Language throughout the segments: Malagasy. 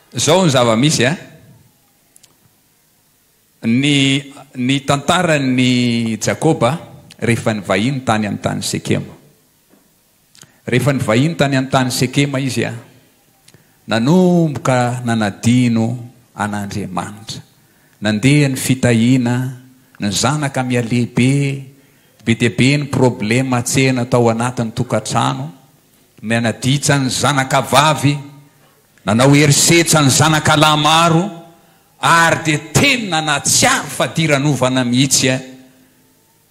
Izao ny zava-misy a! Ny ny tantaran'i Jakoba rehefa nivahiny tany amin'ny tany Sekema. Rehefa nivahiny tany amin'ny tany Sekema izy a, nanomboka nanadino an'Andriamanitra. Nandeha ny fitahiana, ny zanaka miha-lehibe, be dia be ny problema tsena tao anatin'ny tokantrano. Mianaditsa ny zanakavavy, nanao herisetra ny zanakalahy maro ary dia tena nahatsiaro fadiranovana mihitsy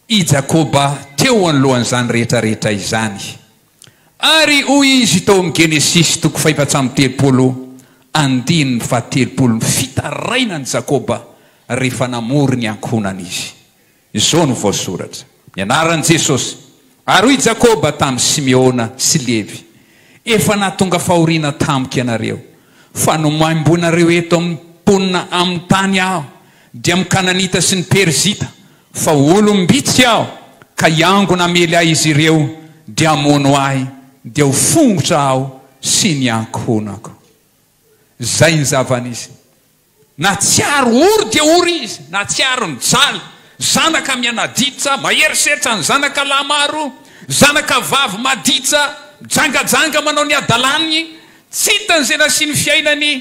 i Jakoba teo anoloan'izany rehetrarehetra izany. Ary hoy izy tao amin'ny Genesisy toko fahefatsy amby telopolo, andininy fahatelopolo, Nifitaraina an'i Jakoba rehefa namory ny ankohonany izy. Izao no voasoratra, Ny anaran'i Jesosy. Ary hoy Jakoba tamin'i Simeona sy Levy, Efa nahatonga fahoriana tamiko ianareo, fa nomaimboinareo eto amin'ny mponina amin'ny tany aho, dia amin'ny Kananita sy ny Perizita, fa olom-bitsy aho, ka hiangona hamely ahy izy ireo, dia hamono ahy, dia ho fongotra aho sy ny ankohonako. Izay ny zava-nisy. Natsiaro ory dia ory izy, natsiaro nijaly, zanaka mianaditsa, mahery setra ny zanaka lahy maro, zanaka vavy maditsa, mijangajanga manao ny hadalany, tsy hitany izay nasiany fiainany,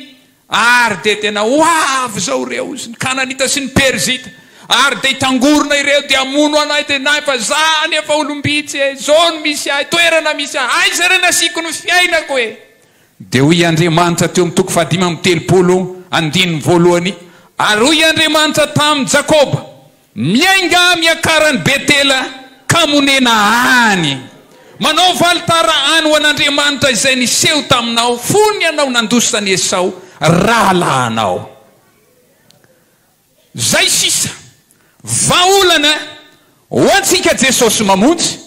ary dia tena ho avy izao ireo, izy ny Kananita sy ny Perizita, ary dia hitangorona ireo dia hamono anay, dia nay fa za anie efa olom-bitsy e, izao no misy ahy, toerana misy ahy, aiza re ny asiako ny fiainako e? Dia hoy Andriamanitra teo amin'ny toko fahadimy amby telopolo, andininy voalohany, Ary hoy Andriamanitra tamin'i Jakoba, Miainga miakara any Betela, ka monena any. Manaova alitara any ho an'Andriamanitra izay niseho taminao fony ianao nandosa an'i Esao rahalahinao. Zay sisa. Vahaolana ho antsika Jesosy Mamonjy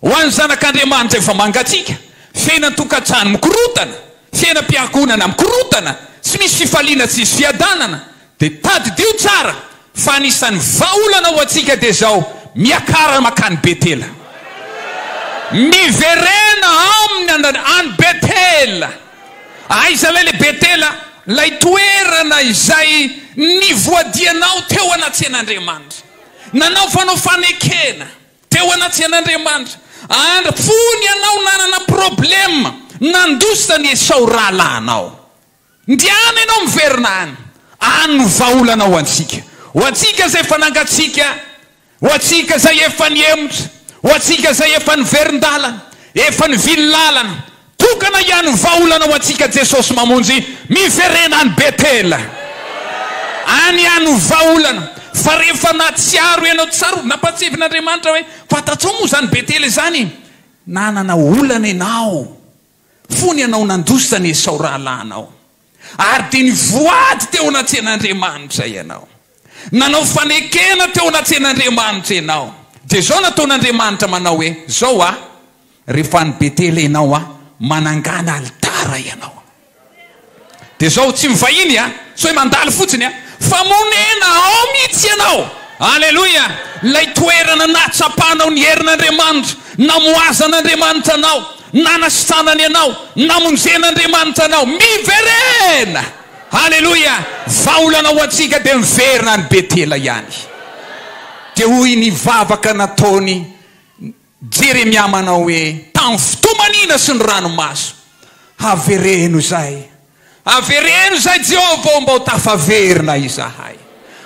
ho an'ny zanak'Andriamanitra efa mangatsiaka, fiainan-tokantrano mikorotana, fiainam-piankohonana mikorotana, tsy misy fifaliana tsisy fiadanana, dia tadidio tsara fa anisan'ny vahaolana ho antsika dia zao, miakara makany Betela. Miverena aminy any Betela. Aiza lay le Betela, lay toerana izay nivoadianao teo anatsehan'Andriamanitra, nanaovanao fanekena teo anatsehan'Andriamanitra, andry fony ianao nanana problème nandosa an'i Esao rahalahinao. Ndehana ianao miverina any, any no vahaolanao ho antsika, ho antsika izay fanangantsika Ho antsika izay efa nihemotra, ho antsika izay efa niverin-dalana, efa nivily lalana, tokana hiany ny vahaolana ho antsika Jesosy mamonjy, miverena any Betela, any hiany ny vahaolana, fa rehefa nahatsiaro ianao tsara ho nampatsevin' Andriamanitra hoe fantatrao moa izany Betela izany, nanana olana ianao, fony ianao nandositra an'i Esao rahalahinao. Ary dia nivoady teo anatrehan'Andriamanitra ianao. Nanao fanekena teo anatrehan'Andriamanitra ianao. Dia izao nataon'Andriamanitra manao hoe, Izao a, rehefa any Betela ianao a, manangana alitara ianao. Dia izao, tsy mivahiny a, tsy hoe mandalo fotsiny a, fa monena ao mihitsy ianao. Aleloia! Ilay toerana nahatsapanao ny herin'Andriamanitra, namohazan'Andriamanitra anao, Nanasitranany ianao, namonjen'Andriamanitra anao. Miverena! Haleloia! Vahaolana ho antsika dia miverina any Betela ihany. Dia hoy ny vavaka nataon'i Jeremia manao hoe, Tamin'ny fotoam-manina sy ny ranomaso, havereno izay. Avereno izay Jehovah ô mba ho tafaverina izahay.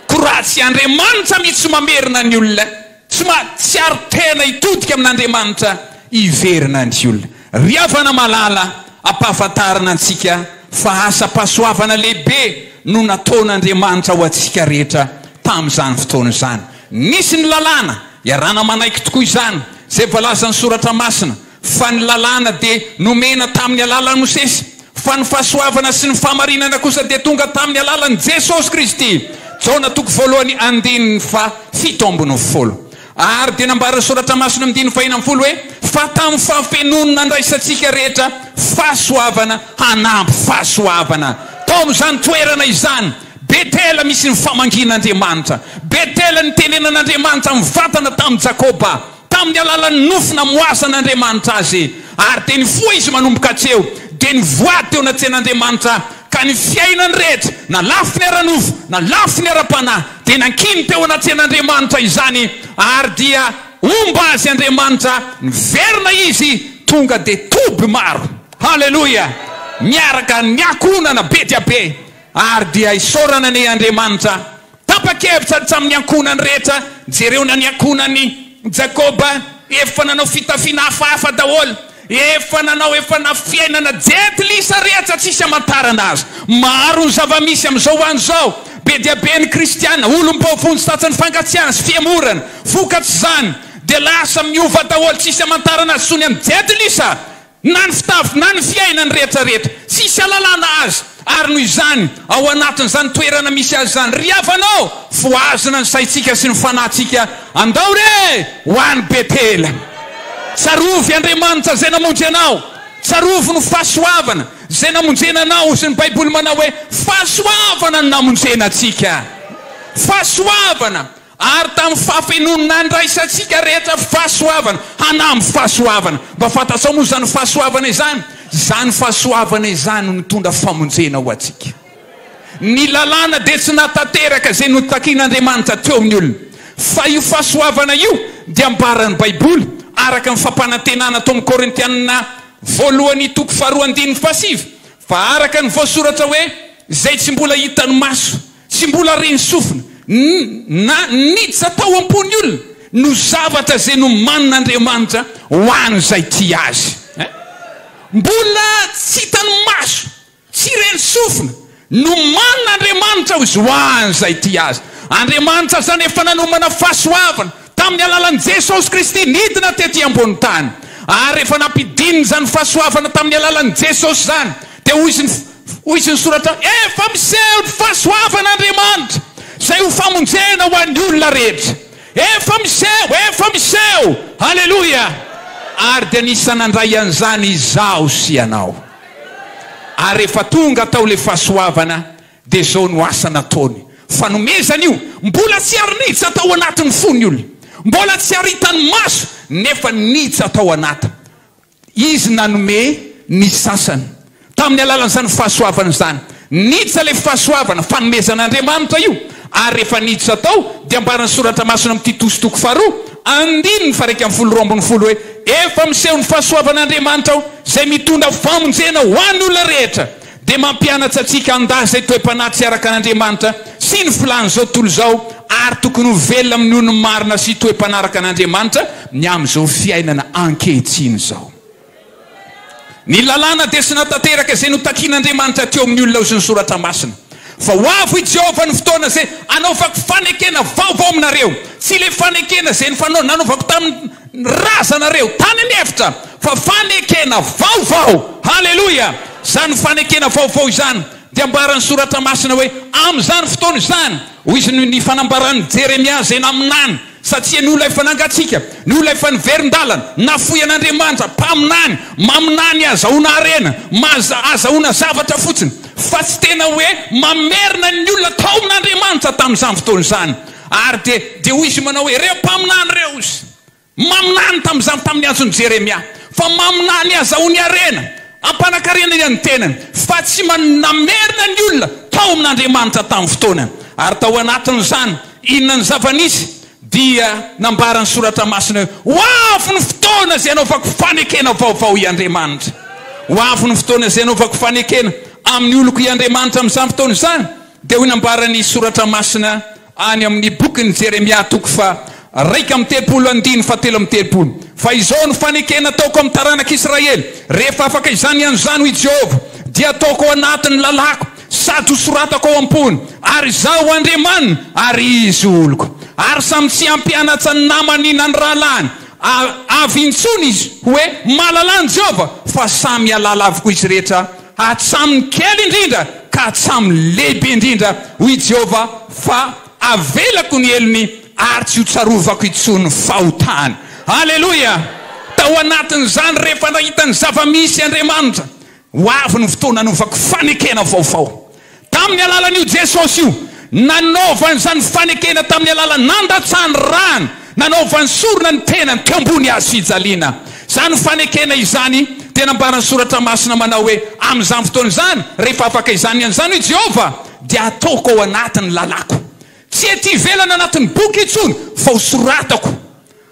Koa raha tsy Andriamanitra mihitsy no mamerina ny olona, tsy mahatsiaro tena hitodika amin'Andriamanitra, hiverina ny olona. Ry havana malala, ampahafantarina antsika fa asam-pahasoavana lehibe no nataon'Andriamanitra ho antsika rehetra tamin'izany fotoana izany. Nisy ny lalàna, iarahana manaiky tokoa izany izay voalazan'ny Soratra Masina, Fa ny lalàna dia nomena tamin'ny alalan'i Mosesy, fa ny fahasoavana sy ny fahamarinana kosa dia tonga tamin'ny alalan'i Jesosy Kristy. Jaona toko voalohany andininy faha fito ambin'ny folo. Ary dia nambaran'ny soratra masina amin'ny diny fahena ambin'ny folo hoe, Fa tamin'ny fahafenoany nandraisantsika rehetra fahasoavana hanampy fahasoavana. Tao amin'izany toerana izany, Betela misy ny famangian'Andriamanitra. Betela nitenenan'Andriamanitra amin'ny vatana tamin'i Jakoba. Tamin'ny alalan'ny nofo namoasan'Andriamanitra azy, ary dia nifoha izy manomboka atsy eo, dia nivoady teo anatrehan'Andriamanitra, ka ny fiainany rehetra, na lafiny ara-nofo, na lafiny ara-panahy, dia nankiny teo anatrehan'Andriamanitra izany, ary dia homba azy Andriamanitra, niverina izy, tonga dia toby maro. Haleloia! Miaraka niankohonana be dia be, ary dia isaorana anie Andriamanitra Tapa-kevitra ny tamin'ny ankohonany rehetra, jereo na ny ankohonan'i Jakoba, efa nanao fitafiana hafahafa daholo, efa nanao, efa na fiainana jentilisa re aza tsisy hamantarana azy. Maro ny zava-misy amin'izao ho an'izao, be dia be ny kristiana, olom-bao vonjy tratry ny fangatsiahana sy fihemorana, vokatr'izany dia lasa miova daholo, tsisy hamantarana azy intsony amin'ny jentilisa. Na ny fitafy na ny fiainany rehetra rehetra, tsisy alalana aza, ary noho izany ao anatin'izany toerana misy azy izany, ry havana ô, fohazina ny saintsika sy ny fanahintsika, andao re ho any Betela, tsarovy Andriamanitra izay namonjy anao, tsarovy ny fahasoavana izay namonjena anao, hozy ny baiboly manao hoe fahasoavana no namonjena antsika, fahasoavana, Ary tamin'ny fahafenoany nandraisantsika rehetra fahasoavana, hanamby fahasoavana. Mba fantatrao moa izany fahasoavana izany? Izany fahasoavana izany no nitondra famonjena ho antsika. Ny Lalàna dia tsy nahatanteraka izay notakin'Andriamanitra teo amin'ny olona. Fa io fahasoavana io dia ambaran'ny Baiboly, araka ny fampanantenana tao amin'ny Korintiana Voalohany toko faharoa andininy fahasivy, fa araka ny voasoratra hoe, Izay tsy mbola hitan'ny maso, Tsy mbola re ny sofina, ny, na niditra tao am-pon'ny olona no zavatra izay nomanin'Andriamanitra ho an'izay tia Azy. Ein! Mbola tsy hitan'ny maso, tsy re ny sofina, nomanin'Andriamanitra ho Izy ho an'izay tia Azy. Andriamanitra izany efa nanomana fahasoavana Tamin'ny alalan'i Jesosy Kristy nidina tety ambonin'ny tany, ary rehefa nampidinina izany fahasoavana tamin'ny alalan'i Jesosy izany, dia hoy izy, hoy izy ny soratra, Efa miseho ny fahasoavan'Andriamanitra, izay ho famonjena ho an'ny olona rehetra. Efa miseho, efa miseho! Haleloia! Ary dia nisy nandray an'izany izaho sy ianao. Ary rehefa tonga tao ilay fahasoavana, Dia izao no asa nataony, fanomezana io mbola tsy ary niditra tao anatin'ny fon'ny olona, mbola tsy ary hitan'ny maso nefa niditra tao anaty. Izy nanome ny sasany tamin'ny alalan'izany fahasoavana izany. Niditra ilay fahasoavana, fanomezan'Andriamanitra io, ary rehefa niditra tao dia ambaran'ny soratra masina amin'i Titosy toko faharoa andininy faha iraika ambin'ny folo roa ambin'ny folo hoe, Efa miseho ny fahasoavan'Andriamanitra ao izay mitondra famonjena ho an'ny olona rehetra. dia mampianatra antsika handà izay toe-panahy tsy araka an'Andriamanitra sy ny filàn'izao tontolo izao ary tokony ho velona amin'ny nonony marina sy toe-panahy araka an'Andriamanitra ny amin'izao fiainana ankehitriny izao. Ny lalàna dia tsy nahatanteraka izay notakin'Andriamanitra teo amin'ny olona sy ny Soratra Masina. Fa ho avy i Jehovah ny fotoana izay hanaovako fanekena vaovao aminareo, tsy ilay fanekena izay nanaovako tamin'ny. Ny razanareo tany ny efitra fa fanekena vaovao. Haleloia! Izany fanekena vaovao izany dia ambaran'ny Soratra Masina hoe, Amin'izany fotoana izany, hoy izy, noho ny fanambaran'i Jeremia izay naminany, satria noho ilay efa nangatsiaka, noho ilay efa niverin-dalana, nafoy an'Andriamanitra, mpaminany, maminany ahazahoana harena, maza, ahazahoana zavatra fotsiny, fa tsy tena hoe mamerina ny olona tao amin'Andriamanitra tamin'izany fotoana izany. Ary dia, dia hoy izy manao hoe, Ireo mpaminany ireo, hozy, maminany tamin'izany tamin'ny antson'i Jeremia, fa maminany hazahoany harena, hampanankarenany an'ny tenany, fa tsy man, namerina ny olona tao amin'Andriamanitra tamin'ny fotoanany. Ary tao anatin'izany, inona ny zava-nisy? Dia nambara ny Soratra Masina hoe, Ho avy ny fotoana izay hanaovako fanekena vaovao i Andriamanitra. Ho avy ny fotoana izay hanaovako fanekena amin'ny oloko i Andriamanitra amin'izany fotoana izany. Dia hoy nambaran'ny Soratra Masina any amin'ny bokin'i Jeremia toko faha-iraika amby telopolo andininy fahatelo amby telopolo, Fa izao no fanekena ataoko amin'ny taranak'Israely, Rehefa afaka izany ny an'izany, hoy Jehovah, dia hataoko ao anatin'ny lalàko, sady hosoratako ao am-pony, ary Izaho ho Andriamaniny, ary izy ho oloko. Ary samy tsy hampianatsa ny namany na ny rahalahiny avy intsony izy, hoe, Malala an'i Jehovah, fa samy hialala avokoa izy rehetra hatramin'ny kely indrindra ka hatramin'ny lehibe indrindra, hoy i Jehovah, fa havelako ny helony ary tsy hotsarovako intsony ny fahotany. Aleloia! Tao anatin'izany, rehefa nahita ny zava-misy Andriamanitra, ho avy ny fotoana hanaovako fanekena vaovao. Tamin'ny alalan'io Jesosy io, nanaovany izany fanekena tamin'ny alalan'ny nandatsahany rany, nanaovany sorona ny tenany teo ambony hazo fijaliana. Izany fanekena izany dia nambaran'ny Soratra Masina manao hoe, Amin'izany fotoana izany, rehefa afaka izany ny an'izany, hoy Jehovah, dia hataoko ao anaty ny lalàko. Tsy ety ivelany anatin'ny boky intsony, fa hosoratako.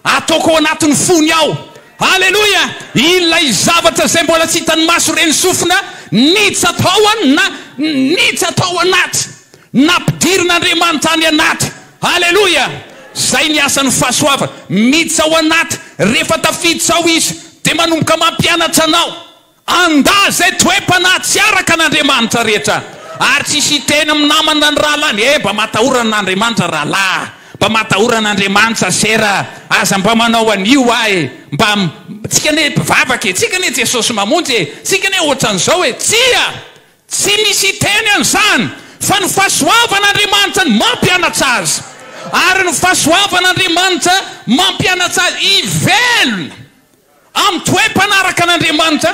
Ataoko ao anatin'ny fony ao. Aleloia! Ilay zavatra izay mbola tsy hitan'ny maso re ny sofina niditra tao an, na niditra tao anaty, nampidirin'Andriamanitra any anaty. Aleloia! Izay ny asan'ny fahasoavana. Miditra ao anaty. Rehefa tafiditra ao Izy, dia manomboka mampianatra anao. Andà izay toe-panahy tsy araka an' Andriamanitra rehetra, ary tsy hisy hiteny amin'ny namany na ny rahalahiny hoe, Mba matahora an' Andriamanitra rahalahy, mba matahora an' Andriamanitra sera, aza mba manao an'io ahy, mba, tsika anie mpivavaka e, tsika anie Jesosy mamonjy e, tsika anie ohatran'izao e, tsia! Tsy misy hiteny an'izany, fa ny fahasoavan' Andriamanitra no mampianatra azy, ary ny fahasoavan' Andriamanitra mampianatra azy hivelona. Amin'ny toe-mpanaraka an'Andriamanitra.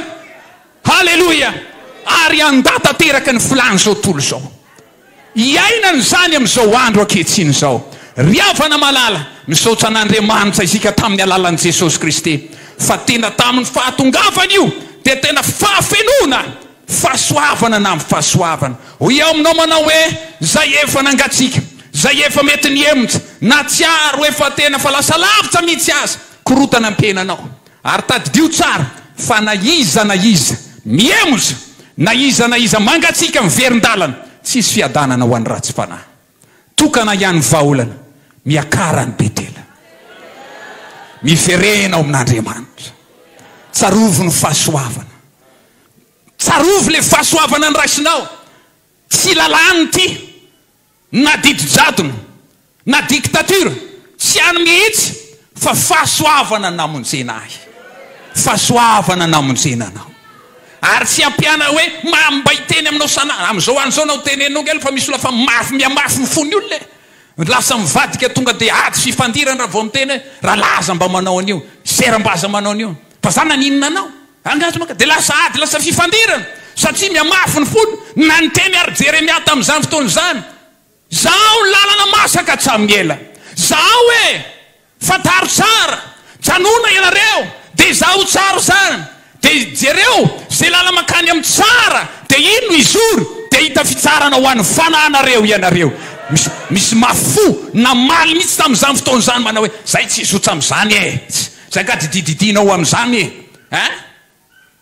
Haleloia! Ary handà tanteraka ny filàn'izao tontolo izao. Iainana izany amin'izao andro ankehitriny izao. Ry havana malala, misaotra an'Andriamanitra isika tamin'ny alalan'i Jesosy Kristy, fa tena tamin'ny fahatongavany io dia tena fahafenoana, fahasoavana na amin'ny fahasoavana. Hoy aho aminao manao hoe, Izay efa nangatsiaka, izay efa mety nihemotra, nahatsiaro efa tena fa lasa lavitra mihitsy aza, Korotana ny tenanao ary tadidio tsara fa na iza na iza mihemoza, na iza na iza mangatsiaka miverin-dalana, tsisy fiadanana ho an'ny ratsy fanahy. Tokana hiany vahaolana miakaran'ny Betela. Miverena ao amin'Andriamanitra. Tsarovy ny fahasoavana. Tsarovy le fahasoavana niraisinao. Tsy lalàna ity. Na didy-jadona, na dictature, tsy any mihitsy, fa fahasoavana namonjena ahy. Fahasoavana namonjena anao. Ary tsy ampiana hoe, mambay teny aminao sanà, amin'izao andro izao na ho tenenina ao ankilany fa misy olona fa mafy, mihamafy ny fon'ny olona e! Lasa mivadika tonga dia ady sy fifandirana raha vao miteny hoe, rahalahy aza mba manao an'io, sœur mba aza manao an'io, fa za naninona anao? Angaha tsy maka dia lasa ady, lasa fifandirana, satria mihamafy ny fony, na niteny àry Jeremia tamin'izany fotoana izany, Zahao ny lalana masaka hatramin'ny ela. Zahao e! Fantaro tsara! Janona ianareo, dia zahao tsara izany, dia jereo izay lalana mankany amin'ny tsara, dia iny no hizoro, dia hahita fitsarana ho an'ny fanahinareo ianareo. Misy, misy mafy fo namaly mihitsy tamin'izany fotoana izany, manao hoe, Izahay tsy hizotra amin'izany e! Zay nga didididianao amzany e! a!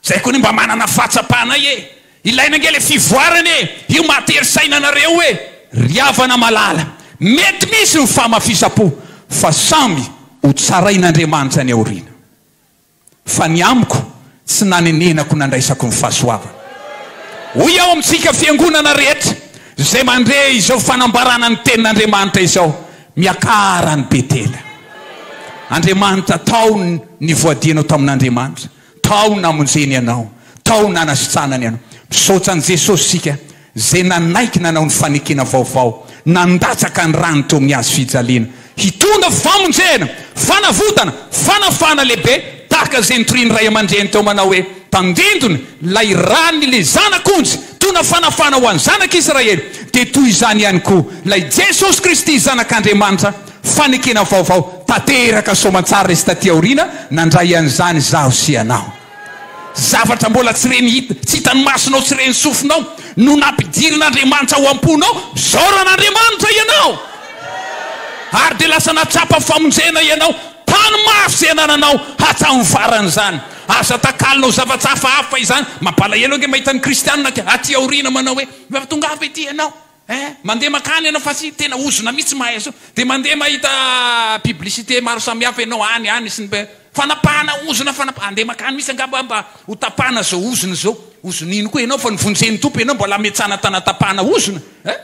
Zay koa anie mba manana fahatsapanay e! Ilaina ange le fivoarana e! Io mahatery saina anareo e! Ry havana malala, mety misy ny famafisam-po fa samy ho tsarain'Andriamanitra any aoriana. Fa ny amiko Tsy nanenenako nandraisako ny fahasoavana. Hoy aho amintsika fiangonana rehetra izay mandre izao fanambarana ny tenin'Andriamanitra izao, miakara any Betela. Andriamanitra, tao nivoadianao tamin'Andriamanitra, tao namonjeny anao, tao nanasitranany anao. Misaotra an'i Jesosy isika izay nanaiky nanao ny fanekena vaovao, nandatsaka ny rany teo amin'ny hazo fijaliana, hitondra famonjena, fanavotana, fanafahana lehibe, tahaka izay nitorian'ny ray aman-dreny teo manao hoe, Tandindona ilay rany ilay Zanak'onja, hitondra fanafahana ho an'ny Zanak'Israely, dia toy izany ihany koa ilay Jesosy Kristy Zanak'Andriamanitra, fanekena vaovao tanteraka soamantsara resy taty aoriana, nandray an'izany izaho sy ianao. Zavatra mbola tsy ren'ny hita, tsy hitan'ny masonao, tsy ren'ny sofinao, no nampidirin'Andriamanitra ao am-ponao, Isaoro an'Andriamanitra ianao! Ary dia lasa nahatsapa famonjena ianao, tany mafy izay anananao hatramin'ny faran'izany. Aza takalonao zavatra hafahafa izany. Mampalahelo ange mahita ny kristiana aty aoriana manao hoe, Efa tonga avy ety ianao. Eh! Mandeha makany ianao fa tsy tena ozona mihitsy mahay azy io. Dia mandeha mahita publicité maro samihafa ianao any, any sy ny be. Fanapahana ozona, fanapa-. Andeha makany mihitsy angamba mba ho tapahana izao ozona izao. Ozona ino koa ianao fa novonjen'ny Tompo ianao mbola hametsana tanatapahana ozona? Eh!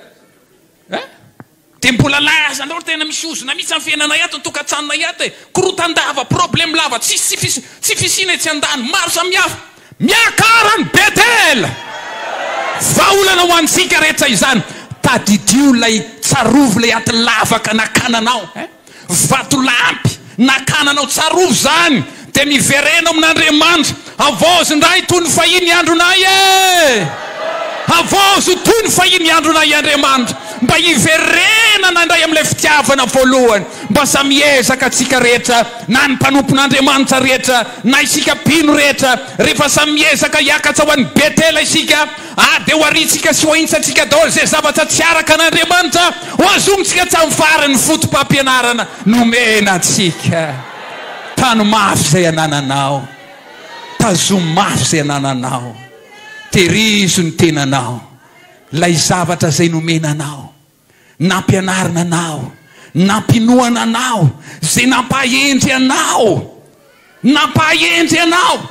Eh! Dia mbola lahazanao ry tena misy ozona mihitsy amin'ny fiainanay ato, ny tokantsanonay ato e! Korotan-dava, problème lava, tsisy tsy fisiana etsy an-dany, maro samihafa. Miakara ny Bethel! Vahaolana ho antsika rehetra izany. Tadidio ilay tsarovy, ilay aty lavaka nakananao eh! Vatolampy nakananao, tsarovy izany, dia miverena ao amin'Andriamanitra. Havaozy indray toy ny fahiny ny andronay eh! Havaozy toy ny fahiny ny andronay Andriamanitra, mba hiverenana indray amin'ilay fitiavana voalohany. Mba samy hiezaka tsika rehetra. na ny mpanompon'Andriamanitra rehetra, na isika mpino rehetra, rehefa samy miezaka hiakatra ho any Betela isika, ary dia hoharintsika sy hoahintsantsika daholo izay zavatra tsy araka an'Andriamanitra, hohazonintsika hatramin'ny farany ny fotopampianarana nomena antsika. Tano mafy izay anananao. Tazomy mafy izay anananao. Tehirizo ny tenanao. Ilay zavatra izay nomena anao. Nampianarina anao, nampinoana anao, izay nampahendry anao, nampahendry anao.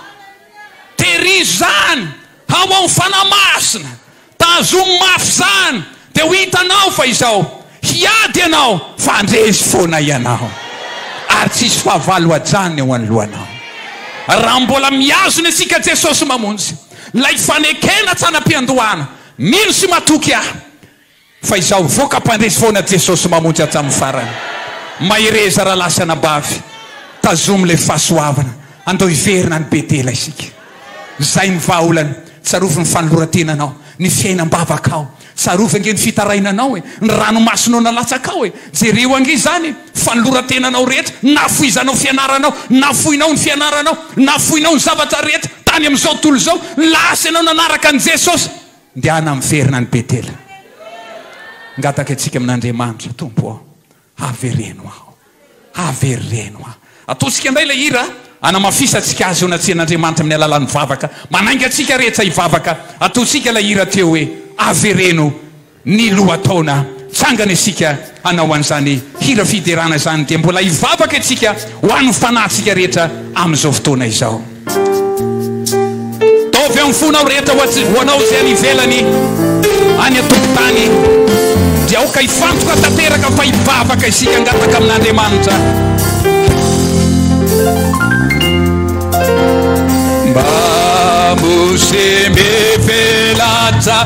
Terizo izany, hao amin'ny Fanahy Masina, tazomy mafy izany, dia ho hitanao fa izao, hiady ianao, fa handresy foana ianao, ary tsy hisy fahavalo hajanona eo anoloanao. Raha mbola mihazona isika Jesosy Mamonjy, ilay fanekena tsy hanam-piandohana, mino sy matoky aho, Fa izaho hivoaka mpandresy foana Jesosy mamonjy hatramin'ny farany Mahereza rahalahy sy anabavy Tazomy ilay fahasoavana Andao hiverina any Betela isika Izay ny vahaolana Tsarovy ny fanoloran-tenanao Ny fiainam-bavakao Tsarovy ange ny fitarainanao e Ny ranomasinao nalatsakao e Jereo ange izany e Fanoloran-tenanao rehetra Nafoizanao fianaranao Nafoinao ny fianaranao Nafoinao ny zavatra rehetra Tany amin'izao tontolo izao Lasa ianao nanaraka an'i Jesosy Ndehana miverina any Betela. Ngataka antsika amin'Andriamanitra, Tompo ô, avereno aho, avereno aho. Ataontsika indray ilay hira hanamafisantsika Azy eo anatrehan'Andriamanitra amin'ny alalan'ny vavaka. Manainga antsika rehetra hivavaka. Ataontsika ilay hira teo hoe, Avereno ny lohataona. Tsangana isika. hanao an'izany hira fiderana izany dia mbola hivavaka isika ho an'ny fanahintsika rehetra amin'izao fotoana izao. Ataovy amin'ny fonao rehetra ho anao izay any ivelany any an-tokontany dia aoka hifantoka tanteraka fa hivavaka isika hangataka amin'Andriamanitra mba mose mbe velatra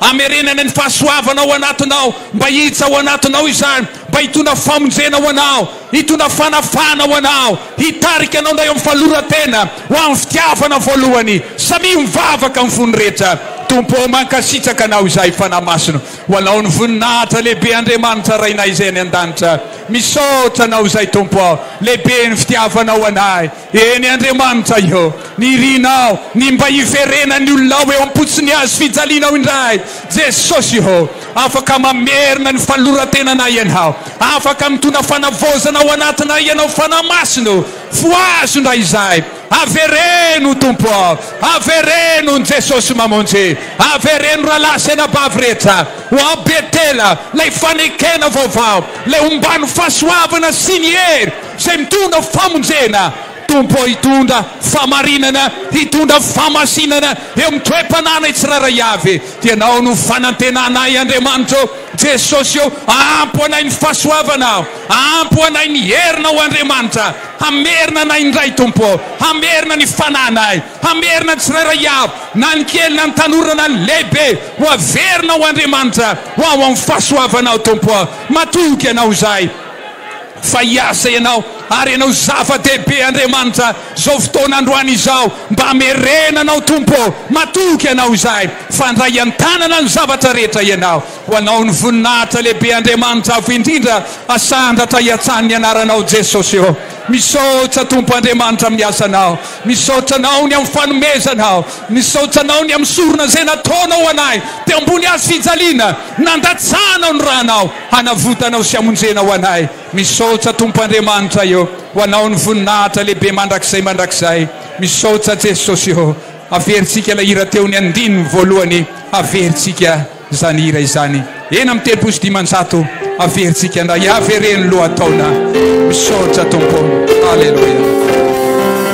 Hamerenana ny fahasoavana ao anatinao, mba hihitsa ao anatinao izany, mba hitondra famonjena ho anao, hitondra fanafahana ho anao, hitarika anao indray amin'ny fahaloran-tena, ho amin'ny fitiavana voalohany. Samia ho mivavaka amin'ny fony rehetra. Tompo ô, mankasitraka Anao izahay, Fanahy Masina. Ho Anao ny voninahitra, lehibe Andriamanitra Rainay izay any an-danitra. Misaotra Anao izay Tompo ô, lehibe ny fitiavanao ho anay. Eny Andriamanitra iô, nirina aho ny mba hiverena ny olonao eo am-potsiny hazo fijalinao indray. Jesosy iô, afaka mamerina ny fanoloran-tenanay Ianao, afaka mitondra fanavaozana ao anatinay Ianao Fanahy Masina ô, fohazo indray izahay, avereno Tompo ô, avereno ny Jesosy mamonjy, avereno rahalahy sy anabavy rehetra ho ao Betela, ilay fanekena vaovao, ilay ombàn'ny fahasoavana sy ny hery, Izay mitondra famonjena, Tompo ô hitondra fahamarinana, hitondra fahamasinana eo amin'ny toe-panahinay tsirairay avy, dia Ianao no fanantenana ahy Andriamanitra ô, Jesosy ô, ampy ho anay ny fahasoavanao, ampy ho anay ny herinao ô Andriamanitra, hamerina anay indray Tompo ô, hamerina ny fanahinay, hamerina ny tsirairay avy, na ny kely na ny tanora na ny lehibe, ho averina ho Andriamanitra, ho ao amin'ny fahasoavanao Tompo ô, matoky Ianao izahay. Fa hiasa ianao, ary ianao zava-dehibe Andriamanitra izao fotoana androany izao, mba hamerena anao Tompo ô, matoky anao izahay, fandray an-tanana ny zavatra rehetra ianao, ho anao ny voninahitra lehibe Andriamanitra avo indrindra, asandratra hiantsahan' ny anaranao Jesosy ô, misaotra Tompo Andriamanitra amin'ny asanao, misaotra anao ny amin'ny fanomezanao, misaotra anao ny amin'ny sorona izay nataonao ho anay, teo ambony hazofijaliana, nandatsahanao ny ranao. Hanavotanao sy hamonjenao anay. Misaotsa Tompo Andriamanitra ô. Ho anao ny voninahitra lehibe mandrakizay mandrakizay. Misaotsa Jesosy ô. Averintsika ilay hira teo ny andininy voalohany. Averintsika izany hira izany. Eny amin'ny telopolo sy dimanjato. Averintsika ndray. Avereno lohataona. Misaotsa Tompo. Aleloia.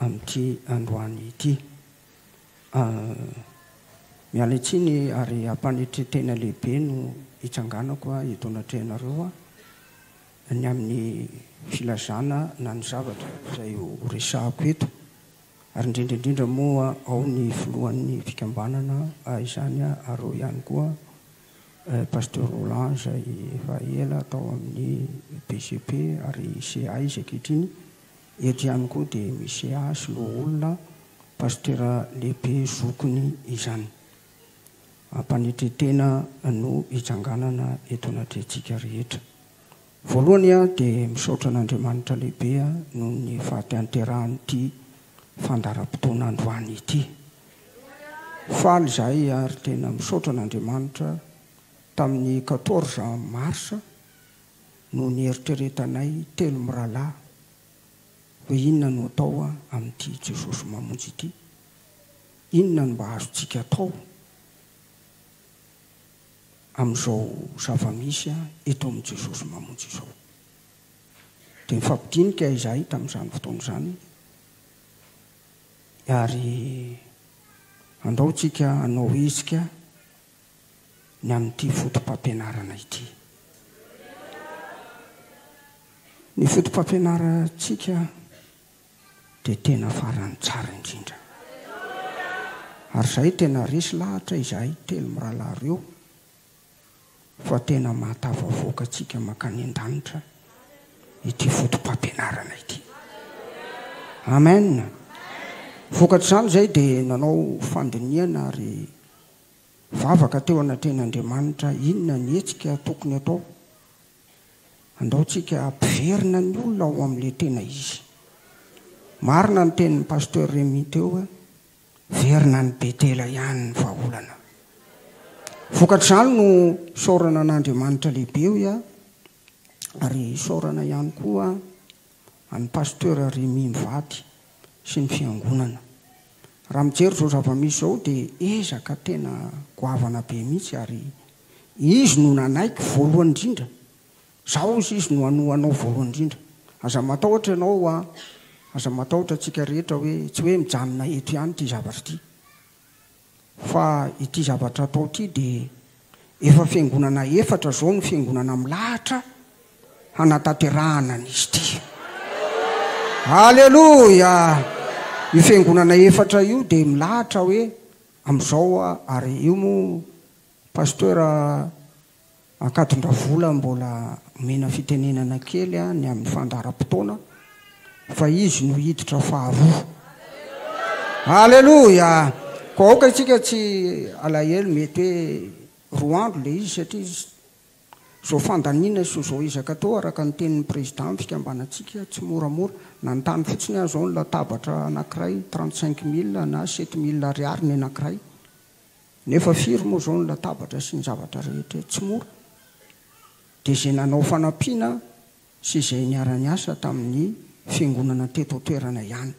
amin'ity androany ity. Miala tsiny ary am-panetren-tena lehibe no hitsanganako eto anatrehanareo ny amin'ny filazana na ny zavatra izay ho resahako eto ary indrindra indrindra moa ao ny filohan'ny fikambanana izany ary ao ihany koa Pasteur Roland izay efa ela tao amin'ny BCP ary CAIS ankehitriny Eto ihany koa dia misy ahy loholona pasitera lehibe zokiny izany. Ampanetretena no hitsanganana eto anatrehantsika rehetra. Voalohany aho dia misaotra an'Andriamanitra lehibe noho ny fahatehanterahan'ity fandaharam-potoana androany ity. Faly izahay ary tena misaotra an'Andriamanitra tamin'ny quatorze mars, no nieritreretanay telo mirahalahy hoe inona no atao amin'ity Jesosy Mamonjy ity? Inona no mba azontsika atao amin'izao zava-misy eto amin'i Jesosy Mamonjy izao? Dia nifampidinika izahay tamin'izany fotoana izany ary andao tsika hanao hetsika ny amin'ity fotopampianarana ity. Ny fotopampianarantsika dia tena faran'ny tsara indrindra. Ary izahay tena resy lahatra izahay telo mirahalahy ireo fa tena mahatafavoaka antsika mankany an-danitra ity fotopampianarana ity. Amen. Vokatr'izany izahay dia nanao fandinihana ary Vavaka teo anatrehan'Andriamanitra, Inona ny hetsika tokony atao? Andao tsika ampiverina ny olona ao amin'ilay tena izy. Marina ny tenin'i Pasteur Remy teo hoe, Verina any Betela ihany ny vahaolana. Vokatr'izany no isaorana an'Andriamanitra lehibe hoy aho, ary isaorana ihany koa. an'i Pasteur Remy mivady sy ny fiangonana. Raha mijery izao zava-misy izao dia ezaka tena goavana be mihitsy ary izy no nanaiky voalohany indrindra. Zao hozy izy no hanoa anao voalohany indrindra. Aza matahotra ianao hoa, aza matahotra antsika rehetra hoe tsy hoe mijanona eto ihany ity zavatra ity. Fa ity zavatra atao ity dia efa fiangonana efatra izao no fiangonana milahatra hanatanterahana an'izy ity. Aleloia! Io fiangonana efatra io dia milahatra hoe amin'izao ary io moa Pasteur Ankadindravola mbola omena fitenenana kely ny amin'ny fandaharam-potoana fa izy no hiditra faharoa. Aleloia! Koa aoka isika tsy alahelo mety hoe roa andro ilay izy satria izao fandaniana sy izao ezaka atao araka ny tenin'ny Président ny fikambanantsika tsy moramora. Nanontany fotsiny aho izao ny latabatra anankiray trente cinq mille na sept mille ariary ny anankiray. Nefa firy moa izao ny latabatra sy ny zavatra rehetra tsy mora. Dia izay nanao fanampiana sy izay niara-niasa tamin'ny fiangonana teto an-toerana ihany.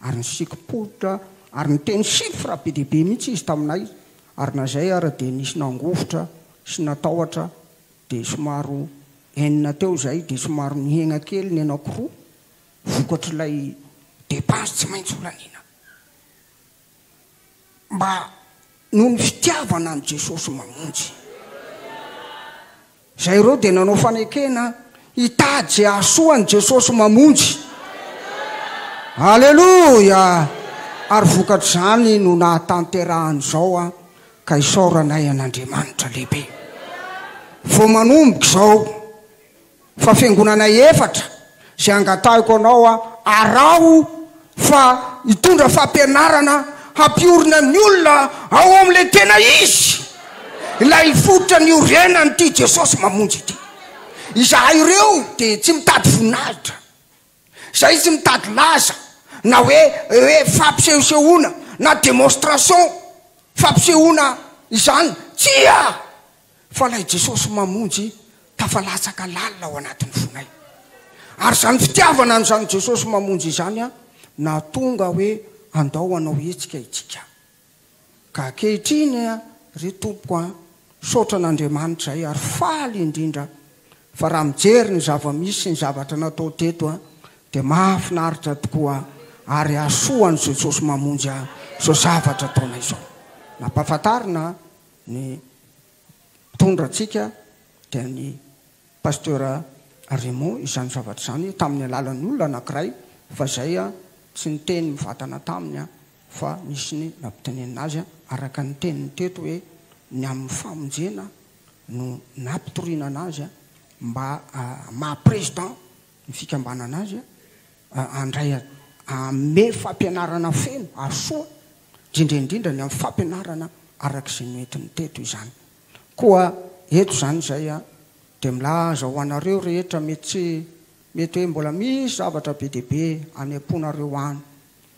Ary nisikim-poritra ary niteny chiffres be dia be mihitsy izy taminay ary na izay ara dia nisy nangovitra sy natahotra dia somaro enina teo izay dia somaro nihegna kely ny anankiroa vokatr'ilay dépense tsy maintsy holaniana. mba noho ny fitiavana an'i Jesosy mamonjy. Izay ireo dia nanao fanekena hitady izay hahasoa an'i Jesosy mamonjy. Aleloia! Ary vokatr'izany no nahatanterahan'izao aho ka isaoranay an'Andriamanitra lehibe. Vao manomboka izao. Fa fiangonana efatra izay angatahiko anao aho, araho fa hitondra fampianarana hampiorina ny olona ao amin'ilay tena izy, ilay fototra niorenan'ity Jesosy Mamonjy ity. Izahay ireo dia tsy mitady voninahitra, izahay tsy mitady laza na hoe hoe fampisehosehoana na démonstration fampisehoana izany, tsia! fa ilay Jesosy Mamonjy tafalatsaka lalina ao anatin'ny fonay. Ary izany fitiavana an'izany Jesosy Mamonjy izany nahatonga hoe andao hanao hetsika isika. Ka ankehitriny ry Tompoko an, misaotra an'Andriamanitra ahy ary faly indrindra fa raha mijery ny zava-misy sy ny zavatra natao teto dia mahafinaritra tokoa ary hahasoa an'i Jesosy Mamonjy ahy izao zavatra ataonay izao. Nampahafantarina Ny mpitondra antsika dia ny Pasteur Raymond izany zavatra izany tamin'ny alalan'ny olona anankiray fa izay tsy niteny mivatana taminy fa nisy ny nampitenenina azy araka ny teniny teto hoe ny amin'ny famonjena no nampitoriana anazy mba maha président ny fikambanana azy handray hanome fampianarana feno ary soa indrindra indrindra ny amin'ny fampianarana araka izay noentiny teto izany. Koa eto izany izay dia milaza ho anareo rehetra mety tsy mety hoe mbola misy zavatra be dia be anempoanareo any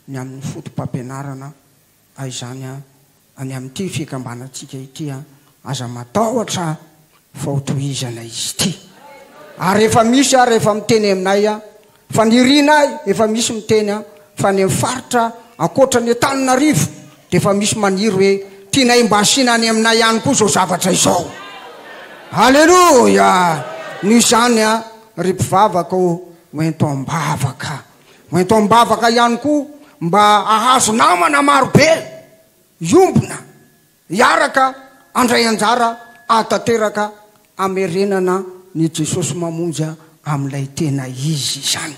ny amin'ny fotopampianarana izany any amin'ity fikambanantsika ity, aza matahotra fa ho tohizana izy ity ary efa misy ary efa miteny aminay a faniriana ahy efa misy miteny a fa any amin'ny faritra ankoatra ny Antananarivo dia efa misy maniry hoe tianay mba asiana any aminay ihany koa izao zavatra izao Aleloia noho izany a ry mpivavaka ô hoento am-bavaka hoento am-bavaka ihany koa mba hahazo namana marobe hiombona Hiaraka handray anjara ahatanteraka hamerenana ny Jesosy Mamonjy amin'ilay tena izy izany.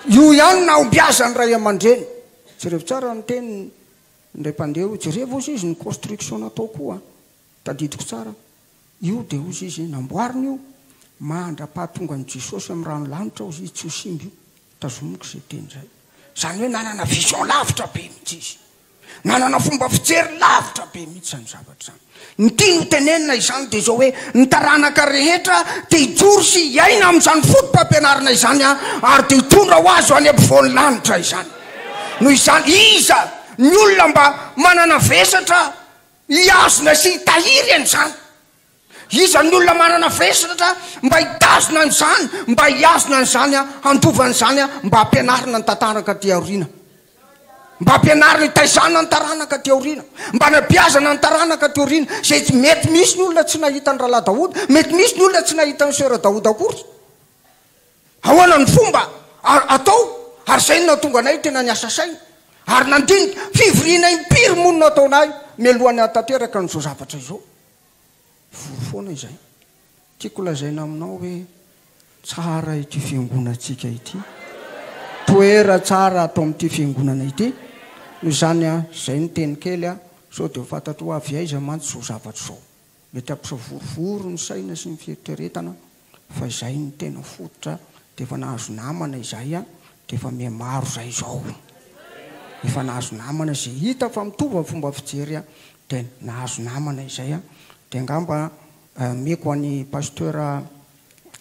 Io ihany no hahombiazan'ny ray aman-dreny. Jerevo tsara ny teniny indray mpandeha io. Jerevo hozy izy ny construction natao koa. Tadidiko tsara. Io dia hozy izy namboarina io mandra-pahatongan'i Jesosy amin'ny rano lanitra hozy izy tsy ho simba io. Tazomiko izay teny izay. Izany hoe nanana vision lavitra be mihitsy izy. Manana fomba fijery lavitra be mihitsy izany zavatra izany. Ny tiany ho tenenina izany dia izao hoe, ny taranaka rehetra dia hijoro sy hiaina amin'izany foto-pampianarana izany ary dia hitondra ho azy ho any ampovoan'ny lanitra izany. Noho izany, iza ny olona mba manana vesatra hihazona sy hitahiry an'izany? Iza ny olona manana firesratra mba hitazona an'izany, mba hihazona an'izany, handova an'izany, mba hampianarina ny tantaraka aty aoriana, mba hampianarina hitaizana ny taranaka aty aoriana, mba hanabeazana ny taranaka aty aoriana, izay tsy, mety misy ny olona tsy nahita an'i Rahalahy Daoda, mety misy ny olona tsy nahita an'i Soeur Daoda akory. Ahoana ny fomba a, atao? Ary izay no nahatonga anay tena niasa saina, ary nandinika, fivoriana impiry moa no nataonay, mialoha ny hahatanteraka an'izao zavatra izao. Voa foana izay. Tiako lazaina aminao hoe tsara ity fiangonantsika ity. Toera tsara ato amin'ity fiangonana ity. Noho izany an, izay no teny kely an, sao dia ho fantatrao avy aiza mantsy izao zavatra izao. Mety hampisavorovoro ny saina sy ny fieritreretana Fa izay no tena fototra de efa nahazo namana izay a de efa mihamaro zay izao efa nahazo namana ze hita fa mitovy ny fomba fijery a de nahazo namana izay a de angamba ameko any pasteur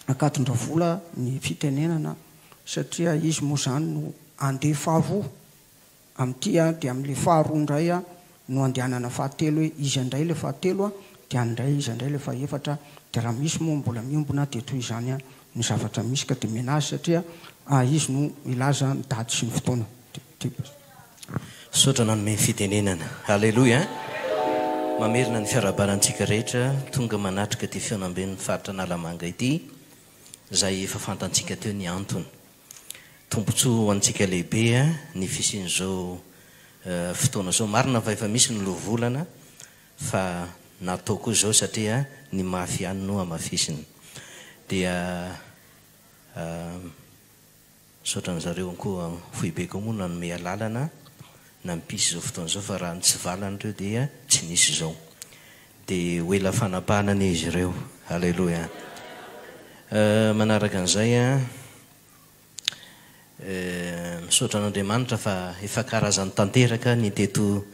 Ankadindravola ny fitenenana satria izy moa zany no andefa avoa. Amin'ity a dia amin'ilay faharoa indray a no andehanana fahatelo hoe iza indray ilay fahatelo a dia any indray iza indray ilay fahefatra dia raha misy moa mbola miombona dia toy izany a ny zavatra misy ka dia miana azy satria a izy no milaza ny daty sy ny fotoana dia Misaotra nanome ny fitenenana. Aleloia! Mamerina ny fiarahabana antsika rehetra tonga manatrika ity fihaonamben'ny faritra Analamanga ity, izay efa fantantsika teo ny antony. Tombontsoa ho antsika lehibe ny fisian'izao fotoana izao. Marina fa efa misy ny lovolana fa natao koa izao satria ny mafy ihany no hamafisina. Dia misaotra an'i zareo koa foibeko ao moa nanome alalana nampisy izao fotoana izao fa raha ny tsy valan'ireo dia tsy nisy izao. Dia ho ela fanapahana anie izy ireo. Aleloia. Euh, manaraka an'izay an, euh, misaotra an'Andriamanitra fa efa karazany tanteraka ny teto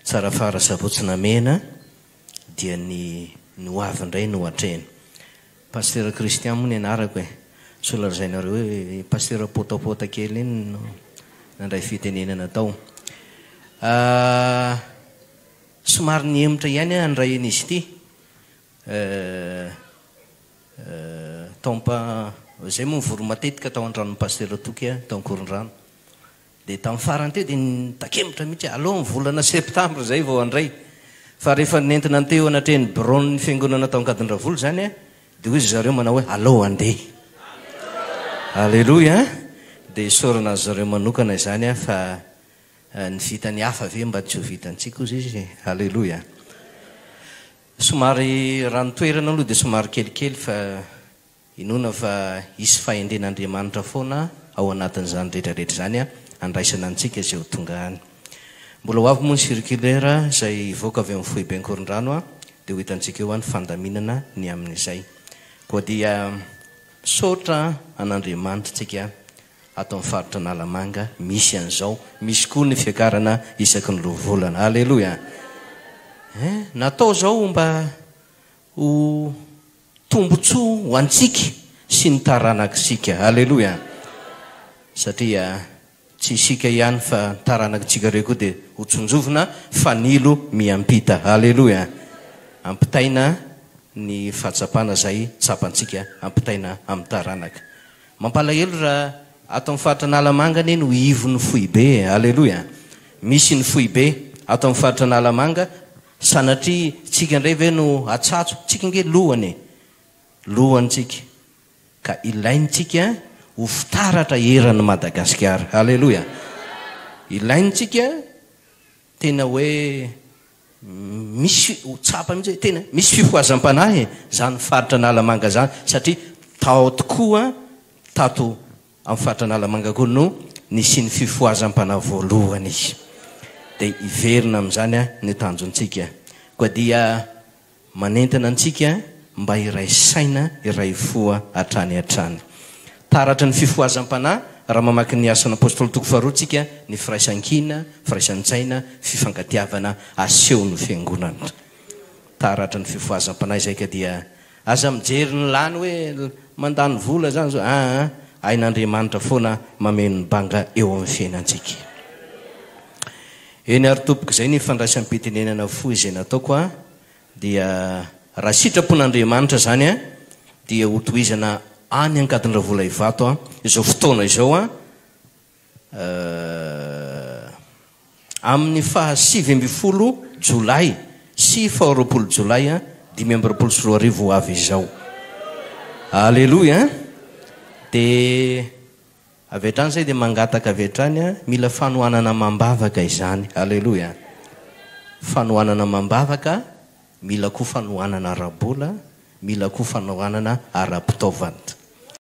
Tsarafara sy Ampotsinamena, dia ny ny ho avy indray no hatrehina. Pasteur Christian moa ny anarako e. Sao lazainareo hoe i Pasteur Potapota kely iny no nandray fitenenana tao. Ah. Somary nihemotra ihany aho nray an'izy ity eh eh taompa zay moa nivory matetika tao an-tranon'i Pasitera Toky aho tao Ankorondrano. Dia tamin'ny farany teo dia nitakemotra mihitsy aho, aleo ny volana septambra izay vao handray. Fa rehefa nentina ny teo anatrehan'ny biraon'ny fiangonana tao Ankadindravola izany aho dia hoy ry zareo manao hoe aleo handeha. Aleloia an! Dia isaorana azy zareo manokana izany aho fa. Ny vitan'ny hafa ve mba tsy ho vitantsika hozy izy e! Aleloia! Somary raha ny toerana aloha dia somary kelikely fa inoana fa hisy fahendren'Andriamanitra foana ao anatin'izany rehetra rehetra izany handraisana antsika izay ho tonga any. Mbola ho avy moa ny circulaire izay hivoaka avy amin'ny foiben'Korondrano dia ho hitantsika eo ny fandaminana ny amin'izay. Koa dia misaotra an'Andriamanitra tsika Ato amin'ny faritra Analamanga misy an'izao, misy koa ny fiakarana isaky ny lovolana. Aleloia! Eh, natao izao mba ho tombontsoa ho antsika sy ny taranak'isika. Aleloia! Satria tsy isika ihany fa ny taranak'itsika ireo koa dia ho tsinjovina fanilo miampita. Aleloia! Ampitaina ny fahatsapana izay tsapantsika, ampitaina amin'ny taranaka. Mampalahelo raha ato amin'ny faritra Analamanga anie no ivon'ny foibe e! Aleloia! Misy ny foibe ato amin'ny faritra Analamanga, sanatria tsika indray ve no atsatso? Tsika ange lohany e! Lohany tsika, ka ilaintsika ho fitaratra eran'i Madagasikara. Aleloia! Ilaintsika tena hoe Misy ho tsapa mihitsy hoe tena misy fifohazam-panahy izany faritra Analamanga izany satria tao tokoa tato amin'ny faritra Analamanga koa no nisian'ny fifohazam-panahy voalohany izy. Dia hiverina amin'izany ny tanjontsika. Koa dia Manentana antsika mba hiray saina, hiray fo hatrany hatrany. Taratry ny fifohazam-panahy raha mamaky ny Asan' Apôstôly toko faharoa tsika ny firaisan-kina, firaisan-tsaina, fifankatiavana asehon' ny Fiangonana. Taratry ny fifohazam-panahy izay ka dia aza mijery ny lany hoe mandany vola izany izao aa, hain' Andriamanitra foana mameno ny banga eo amin' ny fiainantsika. Eny ary tompoko izay ny fandraisam-pitenenana fohy izay nataoko a dia raha sitrapon'Andriamanitra izany a dia ho tohizana any Ankadindravola Ivato a izao fotoana izao a amin'ny faha sivy ambin'ny folo jolay sy faha roapolo jolay a dimy amby roapolo sy roa arivo ho avy izao. Aleloia a! Dia. Avy hatrany izay dia mangataka avy hatrany aho, mila fanohanana amam-bavaka izany. Aleloia! Fanohanana amam-bavaka, mila koa fanohanana ara-bola, mila koa fanohanana ara-pitaovana.